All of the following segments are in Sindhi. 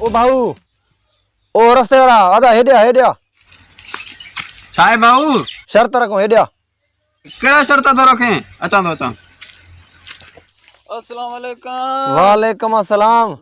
او ڀائو او رستي وارا آدا هيڏي آ هيڏي آ ڇا آهي ڀائو شرط رکون هيڏي آ ڪهڙا شرط ٿو رکين اچان ٿو اچان السلام عليڪم وعليڪم السلام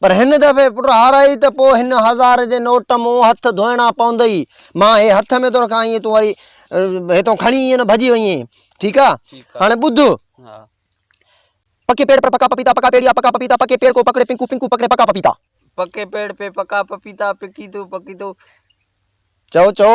پر هن دفعي پٽ هارائي ته پوء هن هزار جي نوٽ مون هٿ ڌوئڻا پوندئي. مان هي هٿ ۾ ٿو رکان ائين تون وري هتئون کڻي ائين نه ڀڄي وڃين. ٺيڪ آ؟ هاڻي ٻڌ. پڪي پيڙ پر پڪا پپيتا، پڪا پيڙ يا پڪا پپيتا، پڪي پيڙ ڪو پڪڙي پنڪو، پنڪو پڪڙي پڪا پپيتا. پڪي پيڙ پي پڪا پپيتا، پڪيتو، پڪيتو. چئو، چئو.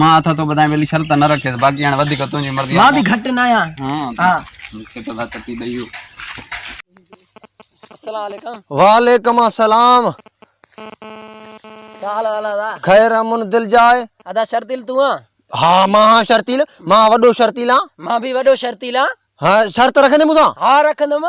مان اٿا تو ٻڌايان ويلي شرط نه رکيس باقي هاڻي وڌيڪ تنهنجي مرضي مان به گهٽ نه آهيان ها مونکي ته ڀت ٿي ڏئي هو السلام عليڪم وعليڪم السلام ڇا حال حال ادا خير امن دل جاء ادا شرطيل تون آن ها مان ها شرطيل مان وڏو شرطيل آن مان به وڏو شرطيل آن ها شرط رکندي مون سان ها رکندم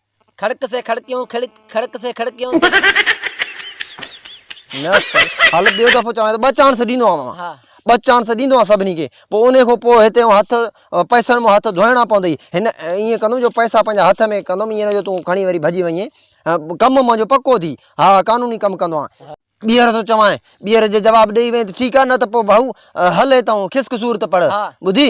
کڙڪ سي کڙڪيون کڙڪ کڙڪ سي کڙڪيون هل ٻيو دفعو چوان ته ٻه چانس ڏيندو آهيان مان ها ٻه چانس ڏيندو آهيان سڀني کي پوء ان کان پوء هتي هٿ پئسن مان هٿ ڌوئڻا پوندئي هن ائين ڪندم جو پئسا پنهنجا هٿ ۾ ڪندم ائين نه جو تون کڻي وري ڀڄي وڃين ڪم منهنجو پڪو ٿي ها قانوني ڪم ڪندو آهيان ٻيهر ٿو چوانء ٻيهر جي جواب ڏيئي وئين ته ٺيڪ آهي نه ته پوء ڀائو هل هتان کسڪ صورت پڙهه ٻڌي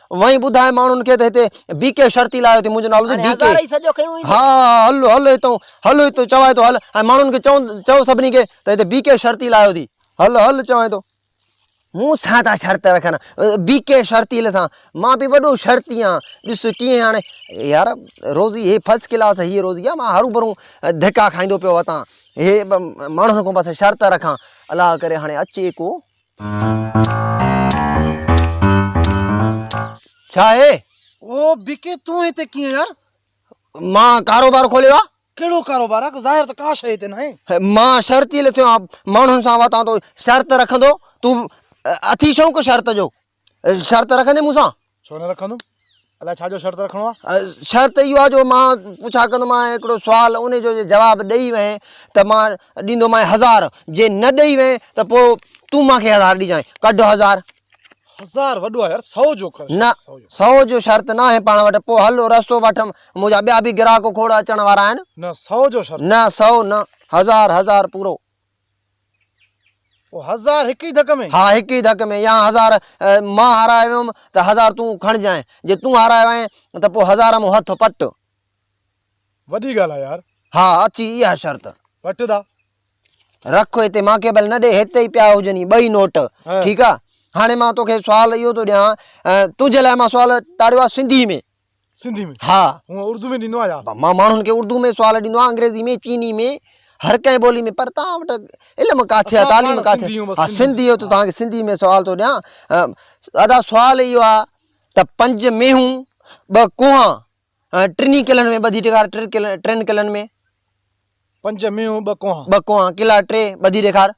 وئين ٻڌاء ماڻهن کي ته هتي بي ڪي شرطي لايو اٿئي، منهنجو نالو اٿئي بي ڪي. ها هل هل هتئون، هل هتئون چوانء ٿو هل ۽ ماڻهن کي چئون چئو سڀني کي ته هتي بي ڪي شرطي لايو اٿئي، هل هل چوانء ٿو. مون سان ٿا شرط رکن بي ڪي شرطي سان، مان به وڏو شرطي آهيان، ڏس ڪيئن هاڻي يار روزي هي فرسٽ ڪلاس هيء روزي آهي مان هرون ڀرون ڌڪا کائيندو پيو وتان، هي ماڻهن کان بس شرط رکان، الاء ڪري هاڻي اچي ڪو. ڇا اهي؟ او بيڪي تون هتي ڪيئن يار؟ مان ڪاروبار کوليو آ. ڪهڙو ڪاروبار آ؟ ظاهر ته ڪا شيء هتي ناهي. مان شرط ئي لٿيو آ ماڻهن سان واتان تو شرط رکندو تون اٿي شوق شرط جو شرط رکندين مون سان؟ ڇو نه رکندم؟ الاء ڇا جو شرط رکڻو آ؟ شرط اهو آ جو مان پڇا ڪندومانء هڪڙو سوال ان جو جي جواب ڏئي وئين ته مان ڏيندومانء هزار جي نه ڏئي وئين ته پو تون مان کي هزار ڏجانء ڪڍ هزار. هزار وڏو آ يار سئو جو ڪر نه شرط سئو جو. سئو جو شرط ناهي پاڻ وٽ پو هل رستو وٺ منهنجا ٻيا به گراهڪ کوڙ اچڻ وارا آهن. نه سئو جو شرط. نه سئو نه هزار هزار پورو. پوء هزار هڪ ئي ڌڪ ۾؟ ها هڪ ئي ڌڪ ۾، يا هزار مان هارايو ويم ته هزار تون کڻجانء، جي تون هارايو آهين ته پوء هزار مون هٿ پٽ. وڏي ڳالهه آهي يار. ها اٿي اها شرط. پٽ دا. رک هتي مان کي ڀل نه ڏي، هتي ئي پيا هجني ٻئي نوٽ، ٺيڪ آهي. هاڻي مان توکي سوال اهو ٿو ڏيان، تنهنجي لاء مان سوال ٽاڙيو آهي سنڌي ۾. سنڌي ۾ ها هون اردو ۾ ڏيندو آهيان يار مان ماڻهن کي اردو ۾ سوال ڏيندو آهيان انگريزي ۾ چيني ۾ هر ڪنهن ٻولي ۾ پر توهان وٽ علم ڪاٿي آهي تعليم ڪاٿي ها سنڌي هو ته توهان کي سنڌي ۾ سوال ٿو ڏيان ادا سوال اهو آهي ته پنج مينهون ٻه ڪوها ٽنهي قلعن ۾ ٻڌي ڏيکار ٽن قلعن ۾ پنج مينهون ٻه ڪوها ٻه ڪوها قلعا ٽي ٻڌي ڏيکار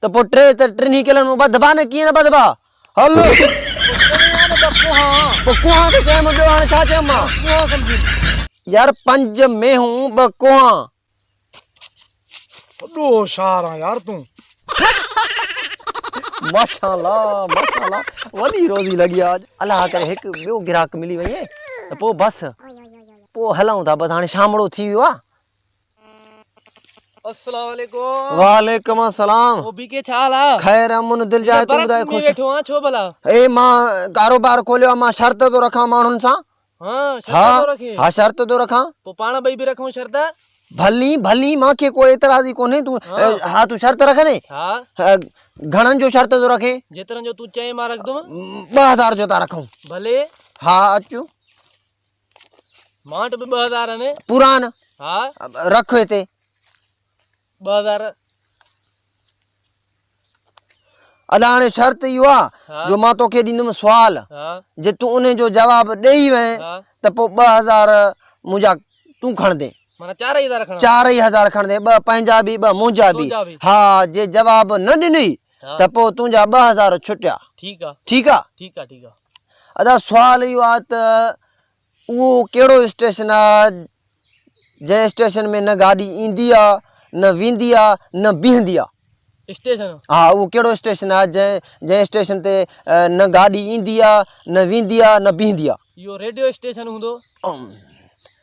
ته پوء ٽي ته ٽنهي ڪيلن مون ٻڌبا نه، ڪيئن نه ٻڌبا؟ هل! پوء ڪوهان ته چيم، ٻيو هاڻي ڇا چيم مان؟ يار پنج مينهون ٻه ڪوهان. وڏو هوشيار آن يار تون. ماشاءالله ماشاءالله وڏي روزي لڳي آ اڄ. الله ڪري هڪ ٻيو گراهڪ ملي وڃي ته پوء بس. پوء هلون ٿا بس هاڻي شامڙو ٿي ويو آ. السلام عليڪم وعليڪم السلام او بي کي ڇا حال آ خير امن دل جاء تون ٻڌاء خوش ويٺو آ ڇو ڀلا اي مان ڪاروبار کوليو مان شرط ٿو رکان ماڻهن سان ها شرط ٿو رکين ها شرط ٿو رکان پو پاڻ ٻئي به رکون شرط ڀلي ڀلي مان کي ڪو اعتراض ئي ڪونهي تون ها تون شرط رکندي ها گھڻن جو شرط ٿو رکين جيترن جو تون چئين مان رکندم 2000 جو ٿا رکون ڀلي ها اچو مانٽ به ٻه هزار ۾ پوران ها رک هتي ٻه هزار ادا هاڻي شرط اهو آ جو مان توکي ڏيندم سوال جي تون ان جو جواب ڏيئي وئين ته پوء ٻه هزار منهنجا تون کڻندي چار ئي هزار کڻندي ٻه پنهنجا به ٻه منهنجا به ها جي جواب نه ڏني ته پوء تنهنجا ٻه هزار ڇٽيا ٺيڪ آ ٺيڪ آ ادا سوال اهو آ ته اهو ڪهڙو اسٽيشن آ جنهن اسٽيشن ۾ نه گاڏي ايندي آ نه ويندي آ نه بيهندي آ. اسٽيشن؟ ها اهو ڪهڙو اسٽيشن آ جنهن جنهن اسٽيشن تي نه گاڏي ايندي آ نه ويندي آ نه بيهندي آ. اهو ريڊيو اسٽيشن هوندو.